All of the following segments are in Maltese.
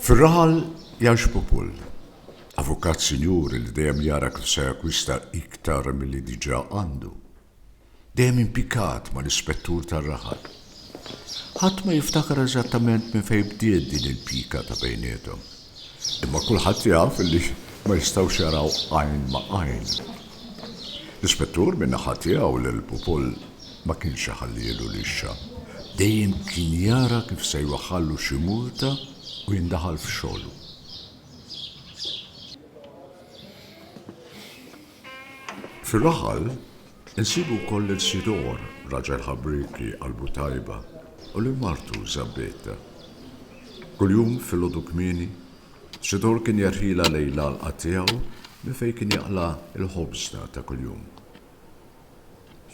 Fir-raħal Jan Xpupul, avukat sinjur li dejjem jara kif se jakkwista iktar milli diġà għandu, dejjem impikat mal-ispettur tar-raħal. Ħadd ma jiftakar eżattament minn fejn bdiet din il-pika ta' bejniethom. Imma kulħadd jaf li ma jistgħux jaraw għajn ma' għajn. L-Ispettur minn naħa tiegħu lil Pupol ma kienx iħallielu rixxa. Dejjem kien jara kif se jwaħħallu xi multa u jindaħal f'xogħlu. Fir-raħal, insibu wkoll lil Sidor, raġel ħabrieki, qalbu tajba, u lil martu, Żabbetta. Kuljum filgħodu kmieni, Sidor kien jerħilha lejn l-għalqa tiegħu minn fejn kien jaqla' l-ħobżna ta' kuljum.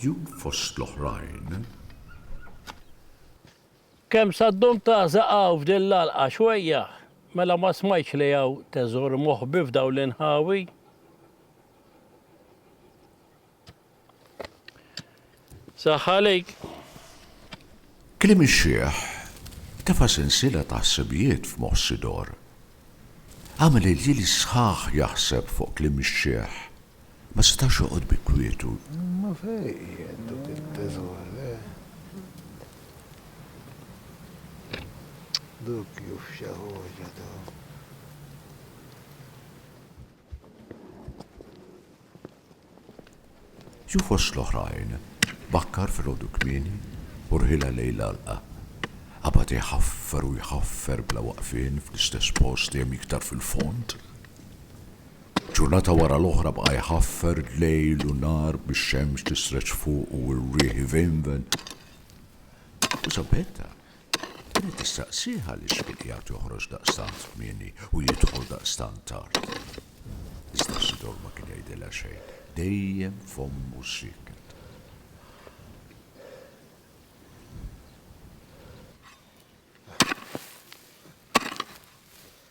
Jum fost l-oħrajn. Kemm sa ddum tażaq hawn f'din l-għalqa xwejja? Mela ma smajtx li hawn teżor moħbi f'dawn l-inħawi? Saħħa għalik! Kliem ix-xiħ tefa' sensiela ta' ħsibijiet f'moħħ Sidor. Għamel il-ġieli sħaħ jaħseb fuq kliem ix-xiħ Ma setax joqgħod bi kwietu. Imma fejn qiegħed dak it-teżor, eh? Dak hu f'xi ħaġa dak. Jew fost l-oħrajn, bakkar filgħodu kmieni u rħilha lejn l-għalqa. Qabad iħaffer u jħaffer bla waqfien fl-istess post dejjem iktar fil-fond. Ġurnata wara l-oħra baqa' jħaffer lejl u nhar bix-xemx tisreġ fuqu u r-riħ ivejnven. U Sabetta kienet tistaqsih għaliex kien qiegħed joħroġ daqstant kmieni u jidħol daqstant tard. Iżda Sidor ma kien jgħidilha xejn, dejjem fommu sieket.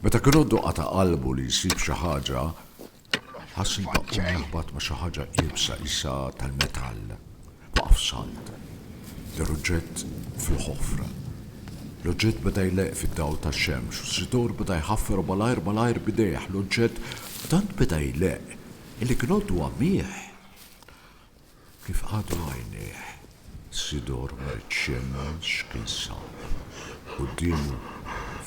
Meta kien għoddu qata' qalbu li jsib xi ħaġa, ħass li baqgħu jaħbat ma' xi ħaġa iebsa isa tal-metall. Waqaf salt. Ġar oġġett fil-ħofra. L-oġġett beda jleqq fid-dawl tax-xemx u s-situr beda jħaffer malajr malajr b'idejh. L-oġġett tant beda jleqq illi kien għoddu għamih. Kif qagħdu għajnejh, Sidor ma riedx xemmen x'kien sab. Quddiemu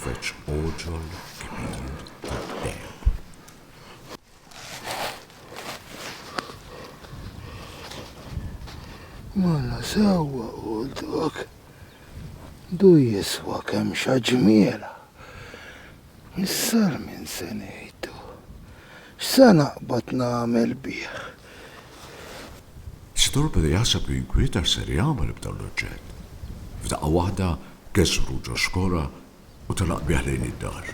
feġġ għoġol kbir tad-deheb. Mela sewwa qultlok, du jiswa kemm xaġmiela. Missar min se ngħidu? X'se naqbad nagħmel bih? Sidur beda jaħseb u jinkwieta x'ser jagħmel b'dan l-oġġett. F'daqqa waħda kessru ġo xkora u telaq bih lejn id-dar.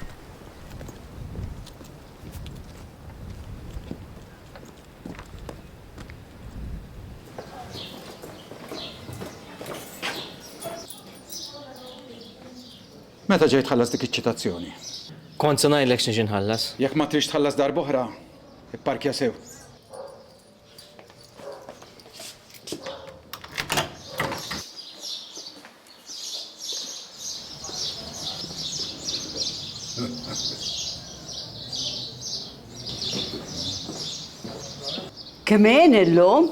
Meta ġej tħallas dik iċ-ċitazzjoni? Kont se ngħidlek x'niġi nħallas. Jekk ma tridx tħallas darb'oħra, ipparkja sew. Kemm għin illum?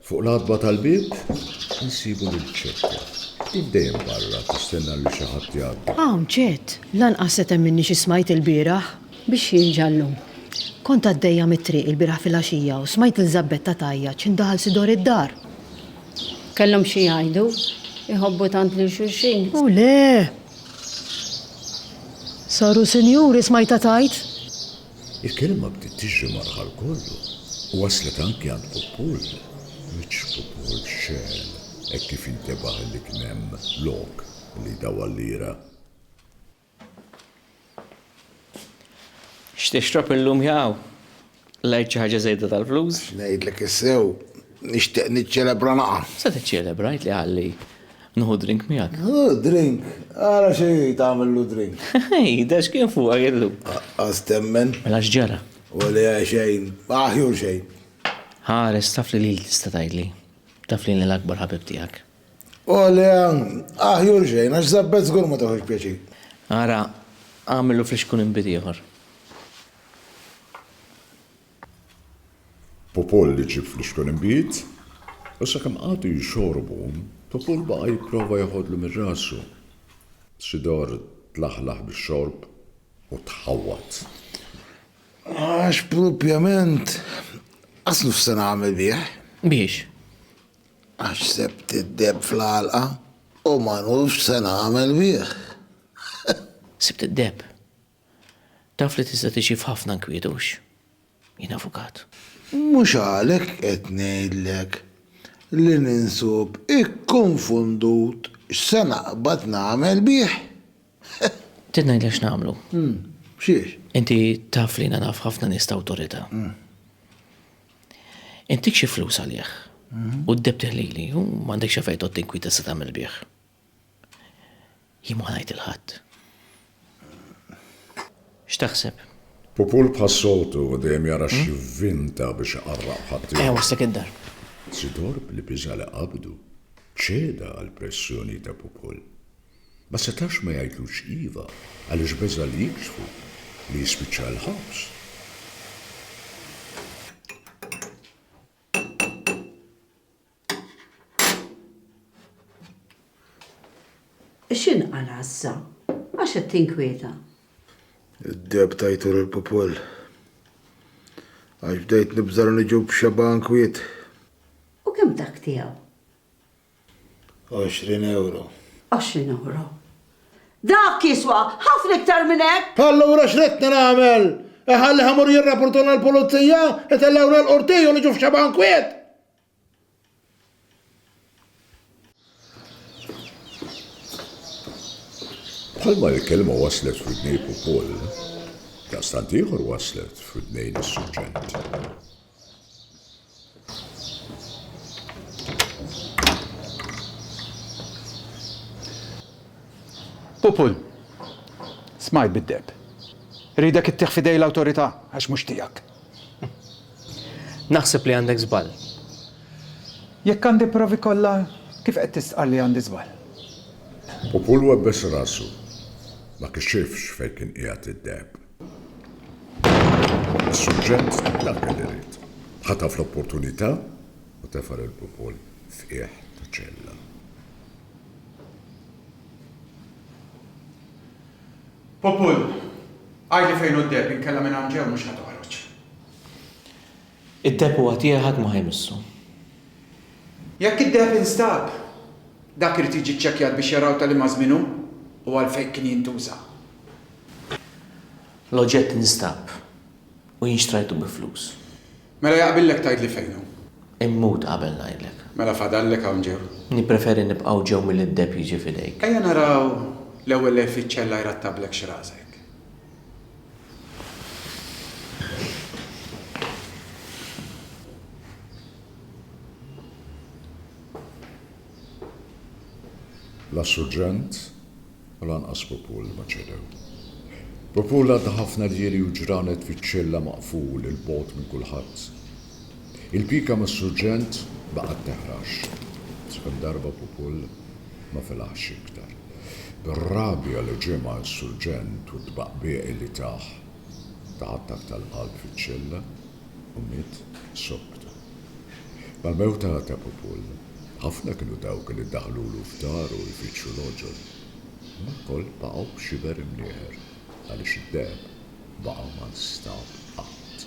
Fuq l-għatba tal-bieb insibu lil Ċetta. Hi dejjem barra tistenna lil xi ħadd jgħaddi. Hawn Ċett, lanqas se temminni xi smajt ilbieraħ! Biex jinġa llum. Kont għaddejja mit-triq ilbieraħ filgħaxija u smajt lil Żabbetta tgħajjat x'int daħal sidor id-dar. Kellhom xi jgħidu. Iħobbu tant lil xulxin. U le! Saru sinjuri smajtha tgħid. Il-kelma bdiet tiġri mal-ħal kollu u waslet anki għand Pupull. Wiċċ Pupull xegħel hekk kif intebaħ illi kien hemm lok li jdawwal lira. X'tixrob illum jaqaw? Lajt xi ħaġa żejda tal-flus? X'ngħidlek is-sew, nixtieq niċċelebra laqgħa. Se tiċċelebra, għidli ħalli. Nieħu drink miegħek? Hu, drink? Ara xi tagħmillu drink? Jidher x'kien fuqha jien llum. Qas temmen. Mela x'ġara? Weli eh xejn. Aħjur xejn. Ħares, taf li lili tista' tgħidli. Taf li jiena l-akbar ħabib tiegħek. Weli eh, aħjur xejn, għax żabbet żgur ma tagħhux pjaċir. Ara, agħmillu flixkun inbid ieħor. Pupul li ġieb flixkun inbid, u sakemm qagħdu jxorbu, Pupul baqa' jipprova jeħodlu minn rasu. Sidor tlaħlaħ bix-xorb u tħawwad. Għax propjament aslu x'se nagħmel bih? Biex? Għax sebt id-deheb fl-għalqa u ma nafx x'se nagħmel bih. Sibt id-deheb? Taf li tista' tgħix f'ħafna nkwiet hux? Jien avukat. Mhux għalhekk qed ngħidlek li ninsub ikkunfundut x'se naqbad nagħmel bih. Trid ngħidlek x'nagħmlu? X'hiex? Inti taf li jiena naf ħafna nies t'awtorità. Intik xi flus għalih u d-debtih lili u m'għandek xi fejn tgħodd inkwiet tista' tagħmel bih. Jien ma ngħid lil ħadd. X'taħseb? Pupul bħas-soltu dejjem jara xi vinta biex iqarraq b'ħaddieħor. Qiegħ wasslek id-dar. Sidor bl-biża' li qabdu, ċeda għall-pressjoni ta' Pupul. Ma setax ma jgħidlux iva għaliex beża' li jikxfu li jispiċċa l-ħabs. X'inqal għassa? Għax qed tinkwieta? Id-deb tajtur il-pupol. Għax bdejt nibżar niġu b'xeba nkwiet. U kemm dak tiegħu? 20 euro. 20 euro. Dak jiswa ħafna iktar minn hekk. Allura x'ridtna nagħmel? Iħalli ħamur jirrapportuna l-pulizija, itellgħuna l-qorti u niġu f'xeba nkwiet? Bħalma l-kelma waslet f'widnejk ukoll, daqstant ieħor waslet f'widnejn is-suġġent. Pupul, smajt bid-deheb. Iridek ittieħ f'idej l-awtorità għax mhux tiegħek. Naħseb li għandek żball. Jekk għandi l-provi kollha, kif qed tistqarr li għandi żball? Popul webbes rasu. Ma kixifx fejn kien qiegħed id-deheb. Is-surġent dak li ried. Ħataf l-opportunità u tefa' lil Popol f'qiegħ ta' ċella. Popol, Għidli fejn hu d-deheb inkella minn hawn ġew mhux ħa toħroġ. Id-deheb huwa tiegħi ħadd ma ħa jmissu. Jekk id-deheb instab, dak irid jiġi ċċekkjat biex jaraw ta' liema żmien hu u għalfejn kien jintuża. L-oġġett instab u jien xtrajtu bi flus. Mela jaqbillek tgħidli fejn hu? Immut qabel ngħidlek. Mela fadallek hawn ġew. Nippreferi nibqgħu ġew milli d-deheb jiġi f'idejk. Ejja naraw l-ewwel lejl fiċ-ċella jrattablek x'rasek. La Surġent. u lanqas Popul ma ċedew. Popul għadda ħafna ljieli u ġranet fiċ-ċella maqful 'il bogħod minn kulħadd. Il-pika mas-surġent ma qatt teħrax, sakemm darba Popul ma felaħx iktar. Bir-rabja li ġimgħa s-surġent u t-tbaqbieq li tah taħattak tal-qalb fiċ-ċella. u miet subtu. Mal-mewta ta' Pupul, ħafna kienu dawk li daħlulu f'daru jfittxu l-għoġol. Imma lkoll baqgħu b'xiber imnieħer għaliex id-deheb baqa' ma nstab qatt.